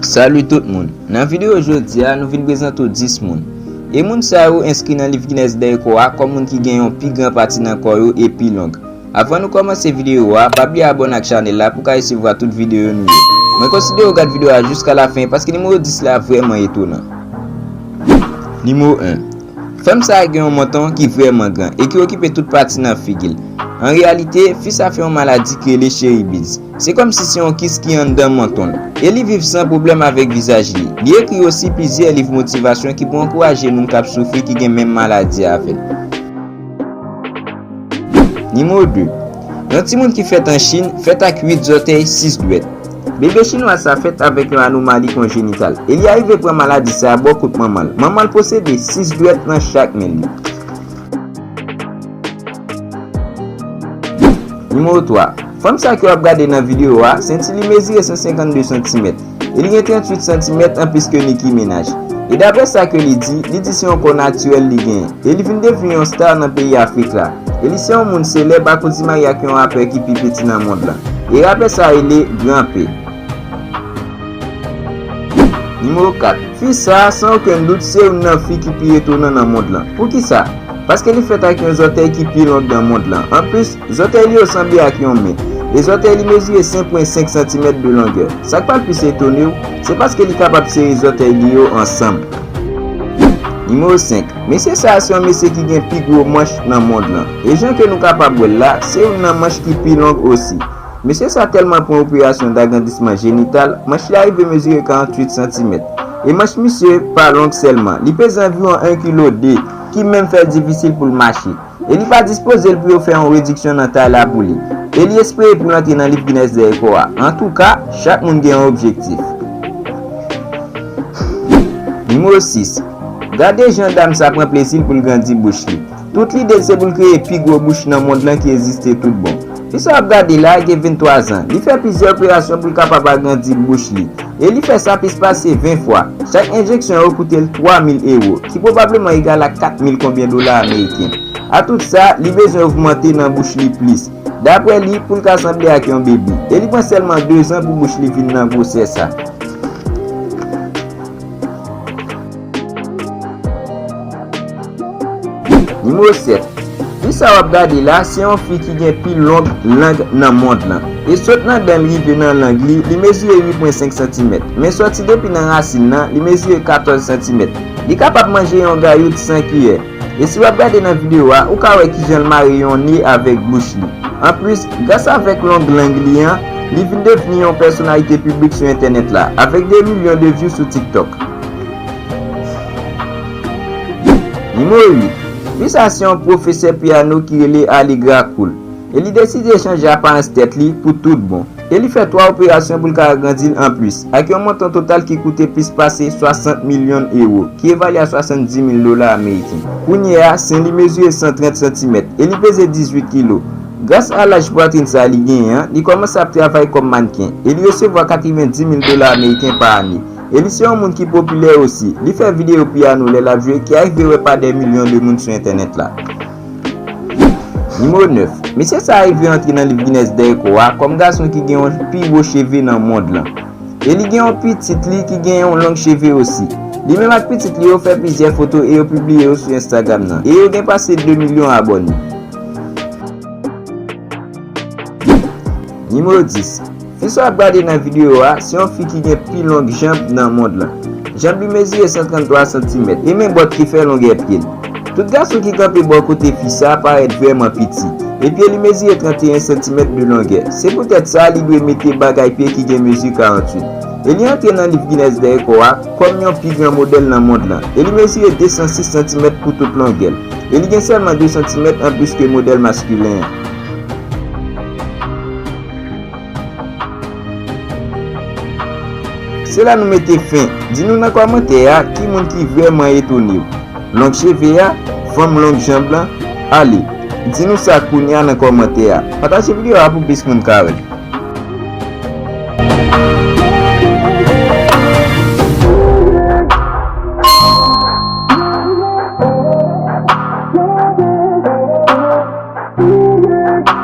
Salut tout moun, nan video jodi a nou vin prezante ou 10 moun E moun sa yo enskri nan liv Guinness Dèyè kò a kòm moun ki gen yon pi gran pati nan kò yo e pi long Avan nou kòmanse videyo a, pa bliye abòne ak chanèl la pou ka resevwa tout videyo nou yo. Mwen konsidere ou gad videyo a jiska lafen paske nimewo 10 la vrèman etonan. Nimewo 1. Fanm sa a gen yon menton ki vrèman gran e ki okipe tout pati nan figi l. An reyalite, fi sa fè yon maladi ki rele cheribids. Se kòmsi se yon kis ki anndan menton l. E li viv san pwoblèm avèk vizaj li. Li ekri osi plizyè liv motivasyon ki pou ankouraje moun k ap soufri ki gen menm maladi avè l. Nimewo 2, Yon timoun ki fèt an Chin fèt ak 8 zòtèy, 6 dwèt. Bebe Chinwaz sa fèt avèk yon anomali konjenital e li arive pran maladi sa bò kot manman l. Manman l posede 6 dwèt nan chak men li. Nimewo 3, Fanm sa ke w ap gade nan videyo a, senti li mezire 152 santimèt. e li gen 38 santimèt anplis ke Nicki Minaj. E daprè sa ke li di, li di se yon kò natirèl li genyen, e li vin devni yon star nan peyi Afrik la, e li se yon moun selèb akoz li marye ak yon rapè ki pi piti nan mond lan, e rapè sa rele Grand P. Nimewo 4. Fi sa, san okenn dout, se youn nan fi ki pi etonan nan mond lan. Poukisa? Paske li fèt ak yon zòtèy ki pi long nan mond lan, anplis, Zòtèy li yo sanble ak yon men, e zòtèy li mezire 5.5 santimèt de longè. Sa k pral plis etone w, se paske li kapab sere zòtèy li yo ansanm. Nimewo 5, Mesye sa a se yon mesye ki gen pi gwo manch nan mond lan. E jan ke nou kapab wè l la, se youn nan manch ki pi long osi. Mesye sa a tèlman pran operasyon dagrandisman jenital, manch li a rive mezire 48 santimèt. E manch misye pa long sèlman, li peze anviwon 1 kilo 2, ki menm fè l difisil pou l mache. Elifa dispoze l pou yo fè yon rediksyon nan tay la pou li. Eli espere pou l antre nan liv Guinness de rekò a. Antouka, chak moun gen yon objektif. Nimewo 6, Gade jan dam sa pran plezi l pou l grandi bouch li. Tout lide l se pou l kreye pi gwo bouch nan mond lan ki egziste tout bon. Fi sa wap gade la gen 23 zan, li fè plizyè operasyon pou l kapab agrandi bouch li, e li fè sa plis pase 20 fwa. Chak enjeksyon yo koute l 3 mil ewo, ki pwobableman egal ak 4 mil konbyen dola ameriken. A tout sa, li bezwen ogmante nan bouch li plis, daprè li, pou l ka sanble ak yon bebe, e li pran sèlman 2 zan pou bouch li vin nan gwosè sa. Nimewo 7, Fi sa w ap gade la, se yon fi ki gen pi long lang nan mond lan. E sot nan dan l rive nan lang li, li mezire 8 pwen 5 santimèt. Men sòti depi nan rasin nan, li mezire 14 santimèt. Li kapab manje yon gayout san kiyè. E si wap gade nan video a, ou ka wè kijan l mare yon ne avèk bouch li. Anplis, gras avèk long lang li an, li vin devni yon pèsonalite piblik sou entènèt la, avèk de milyon de vyou sou TikTok. Nimewo 8. Fi sa se yon pwofesè piyano ki rele Alegra Cool, e li deside chanje aparans tèt li pou tout bon. e li fè 3 operasyon pou l ka agrandi l anplis, ak yon montan total ki koute plis pase 60 milyon ewo, ki evalye a 70 mil dola ameriken. Kounye a, sen li mezire 130 santimèt, e li peze 18 kilo. Gras a laj pwatrin sa a li genyen an, li kòmanse ap travay kòm mannken, e li resevwa 90 mil dola ameriken pa ane. E li se yon moun ki popilè osi, li fè videyo piyano lè l ap jwe ki arive wè pa dè milyon de moun sou entènèt la. Nimewo 9, Mesye sa a rive antre nan liv Guinness dè rekò a kòm gason ki gen yon pi gwo cheve nan mond lan. E li gen yon pitit li ki gen yon long cheve osi. Li menm ak pitit li yo fè plizyè foto e yo pibliye yo sou Instagram nan e yo gen pase 2 milyon abòne. Nimewo 10, Fi sa w ap gade nan videyo a, se yon fi ki gen pi long janm nan mond lan. Janm li mezire 133 santimèt, e men bòt ki fè longè pye l. Tout gason ki kanpe bò kote fi sa parèt vrèman piti, e pye li mezire 31 santimèt de longè. Se poutèt sa li dwe mete bagay pye ki gen mezi 48. E li antre nan liv Guinness dè rekò a, kòm yon pi gran modèl nan mond lan. E li mezire 206 santimèt pou tout longè l. E li gen sèlman 2 santimèt anplis ke modèl maskilen an. Se la nou mete fen. Di nou nan kòmantè a ki moun ki vrèman etone ou. Long cheve a? Fanm long janb lan? Ale, di nou sa kounya nan kòmantè a. Pataje videyo a pou plis moun ka wè.